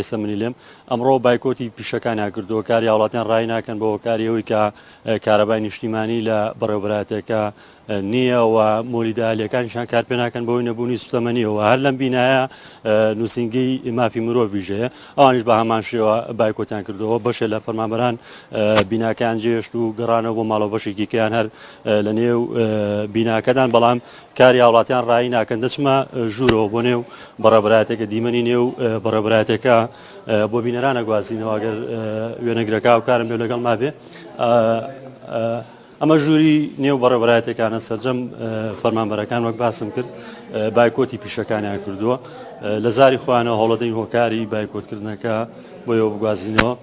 ئێستا منی لێم ئەمڕۆ بایکۆتی پیشەکانیان کردووە کاری هاوڵاتیان ڕای ناکەن بۆ هۆکاری ئەوەی کە کارەبای نیشتیمانی لە بەڕێوبەراتەکە نییە و مۆلیدالیەکانیشان کار پێ ناکەن بۆی نەبوونی سوتەمەنیەوە هەر لەم بینایە نووسنگی مافی مرۆڤیش هەیە ئەوانش بە هەمان شێوە بایکۆتیان کردەوە بەشێ لە فەرمانبەران بیناکان جێشت و گەڕانەوە بۆ ماڵەوە بەشێکی کەیان هەر لە نێو بیناکەدان بەڵام کاری هاوڵاتیان ڕایی ناکەن دەچمە ژوورەوە بۆ نێو بەڕێبرایەتەکە دیمەنی نێو بەڕێبرایەتەکە بۆ بینەرانە گوازینەوەگەر وێنەگرەکە و کارم لێ لەگەڵ مابێ ئەمە ژووری نێو بەڕێبرایەتەکانە سرجەم فەرمانبەرەکان وەک باسم کرد بایکۆتی پیشەکانیان کردووە لە زاری خۆیانە هەوڵەدەین هۆکاری بایکۆتکردنەکە بۆ بگوازینەوە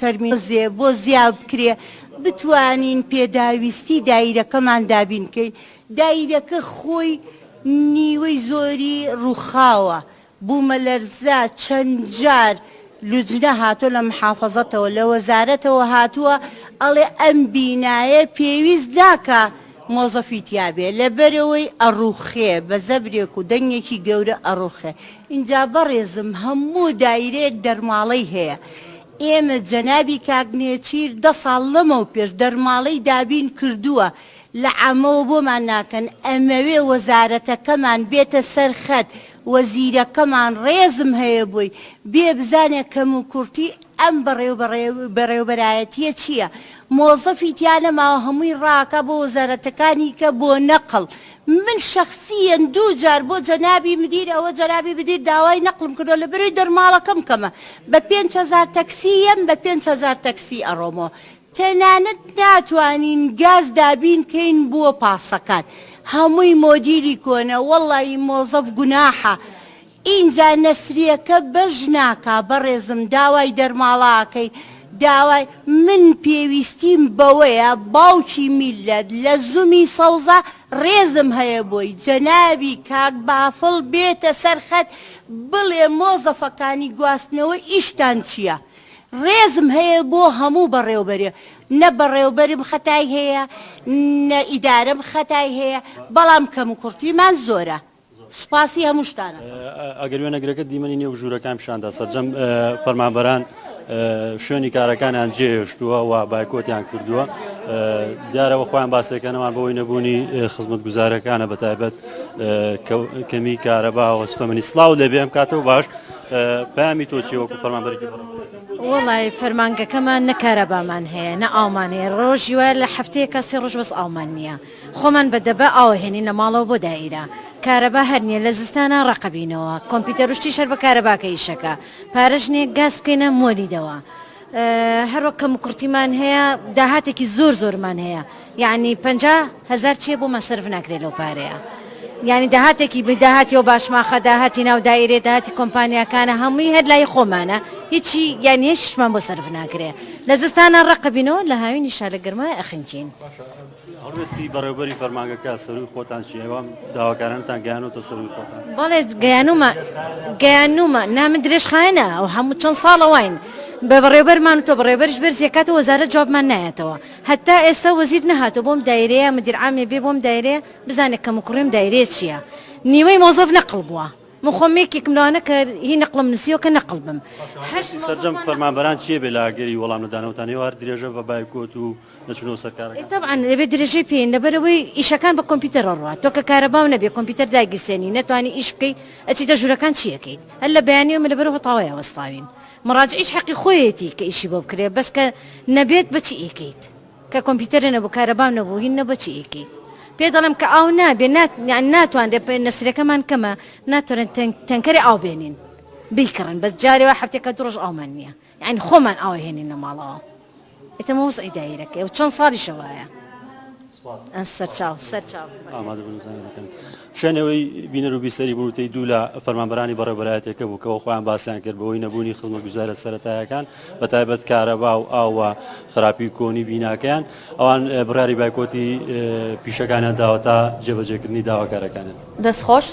تەرمی دۆزێ بۆ زیاد بکرێ بتوانین پێداویستی دایرەکەمان دابین بکەین، دایرەکە خۆی نیوەی زۆری ڕووخاوە، بوومەلەرزە چەند جار لوجنە هاتووە لە محافەزەتەوە لە وەزارەتەوە هاتووە ئەڵێ ئەم بینایە پێویست ناکا، مۆزەفی تیابێ لەبەرەوەی ئەڕوخێ بە زەبرێک و دەنگێکی گەورە ئەڕوخێ ئینجا بەڕێزم هەموو دایرەیەک دەرماڵەی هەیە ئێمە جەنابی کاک نێچیر دە ساڵ لەمەوپێش دەرماڵەی دابین کردووە لە عامەوە بۆمان ناکەن ئەمەوێ وەزارەتەکەمان بێتە سەر خەت وەزیرەکەمان ڕێزم هەیە بۆی بێ بزانێ کەموکوڕتی ئەم بەڕێوبەرایەتیە چیە مۆزەفی تیا نەماوە هەمووی ڕاکا بۆ وەزارەتەکانی کە بۆ نەقڵ من شەخسیەن دوو جار بۆ جەنابی مدیر ئەوە جەنابی مدیر داوای نەقڵم کردوە لە بەروی دەرماڵەکەم کەمە بە پێنج هەزار تەکسی یەم بە پێنج هەزار تەکسی ئەڕۆمەوە تەنانەت ناتوانین گاز دابین کەین بۆ پاسەکان هەمووی مۆدیلی کۆنە وەڵایی مۆزەف گوناحە ئینجا نەسریەکە بەش ناکا بەڕێزم داوای دەرماڵە ئەکەین داوای من پێویستیم بەوەیە باوکی میللەت لە زومی سەوزە ڕێزم هەیە بۆی جەنابی کاک بافڵ بێتە سەر خەت بڵێ مۆزەفەکانی گواستنەوە ئیشتان چیە ڕێزم هەیە بۆ هەموو بەڕێوبەرێ نە بەڕێوبەرم خەتای هەیە نە ئیدارەم خەتای هەیە بەڵام کەموکوڕتیمان زۆرە سوپاسی هەمووشتان ئەکەم. ئەگەر وێنەگرەکە دیمەنی نێو ژوورەکان پیشاندا، سەرجەم فەرمانبەران شوێنی کارەکانیان جێهێشتووە و بایکۆتیان کردووە، دیارە خۆیان باسیەکەنەوان بەهۆی نەبوونی خزمەتگوزاریەکانە بەتایبەت کەمی کارەبا و سوتەمەنی. سڵاوت لێ بێ ئەم کاتە و باش. پەیامی تۆ چیە وەکو فەرمانبەرێکی بەڕێوەبەری؟ وەڵای فەرمانگەکەمان نە کارەبامان هەیە نە ئاومان هەیە، ڕۆژی وایە لە هەفتەیەکا سێ ڕۆژ بەس ئاومان نیە، خۆمان بە دەبە ئاو ئەهێنین لە ماڵەوە بۆ دائیرە. کارەبا هەر نیە لە زستانا ڕەق ئەبینەوە. کۆمپیتەر و شتیش هەر بە کارەباکە ئیش ئەکا. پارەش نیە گاز بکەینە مۆلیدەوە. هەر وەک کەم و کورتیمان هەیە داهاتێکی زۆر زۆرمان هەیە یانی پەنجا هەزار چیە بۆمان سەرف ناکرێ لەو پارەیە یانی داهاتێکی بی داهاتی ئەو باشماخە داهاتی ناو دائیرەیە داهاتی کۆمپانیاکانە هەمووی هەر لای خۆمانە هیچی یانی هیچ شتمان بۆ سەرف ناکرێ. لە زستانا ڕەق ئەبینەوە لە هاوینیشا لە گەرمای ئەخنکین. هەڵوێستی بەڕێوبەری فەرمانگەکە سەرووی خۆتان چیە؟ ئێوە ئەم داواکارانەتان گەیانۆتە سەرووی خۆتان؟ بەڵێ گەیانوومە گەیانوومە، نا من درێژخایەنە ئەو هەموو چەند ساڵە واین بە بەڕێوبەرمان وتوە بەڕێوبەریش بەرزی ئەکاتەوە وەزارەت جوابمان نایاتەوە هەتا ئێستا وەزیر نەهاتوە بۆم دایرەیە مدیر عامێ بێ بۆم دایرەیە بزانێ کەم و کوڕی ئەم دایرەیە چیە نیوەی مۆزەف نەقڵ بووە من خۆم یەکێکم لەوانە کە هی نەقڵم نوسیوە کە نەقڵ بم هەشت مۆزەف هەڵوێستی سەرجەم فەرمانبەران چیە بێ لە ئاگری وەڵام نەدانەوەتان ئێوە هەر درێژە بە بایکۆت و نەچونەوە سەر کارەکان. ئێ تەبعەن دەبێ درێژەی پێین لەبەرئەوەی ئیشەکان بە کۆمپیوتەر ئەڕوات تۆ کە کارەباو نەبێ کۆمپیوتەر دایگیرسێنی نەتوانی ئیش بکەی ئەچیتە ژورەکان چی ئەکەیت هەر لە بەیانی ئێمە لەبەرئەو هەتاوەیا وەستاوین مەڕاجعیش حەقی خۆیەتی کە ئیشی بۆ بکرێ بەس کە نەبێت بە چی ئەیکەیت کە کۆمپیوتەرە نەبوو کارەباو نەبوو هین نەبوو چی ئەیکەیت پێ دەڵێم کە ئاو نابێ نات یانی ناتوانرێ پێ نەسرەکەمان کەمە ناتوانرێن تەنکەری ئاو بێنین بیکڕن بەس جارێ وا هەفتەیەکە دوو ڕۆژ ئاومان نیە یانی خۆمان ئاو ئەهێنینە ماڵەوە ئێتە مە وەزعی دایرەکەی و چەند ساڵیشە وایە سەرچاو سەرچاو شوێنەوەی بینەر و بیسەری بوو تی دوو لە فەرمانبەرانی بەڕێبەرایەتەکە بوو کەەوە خۆیان باسییان کرد بەوەی نەبوونی خزمە گوزارە سەتایەکان بە تایبەت کارەبا و ئاوە خراپی کۆنی بیناکەیان ئەوان بڕاری بایکۆتی پیشەکانیان داوە تا جێبەجێکردنی داواکارەکانن دەستخۆش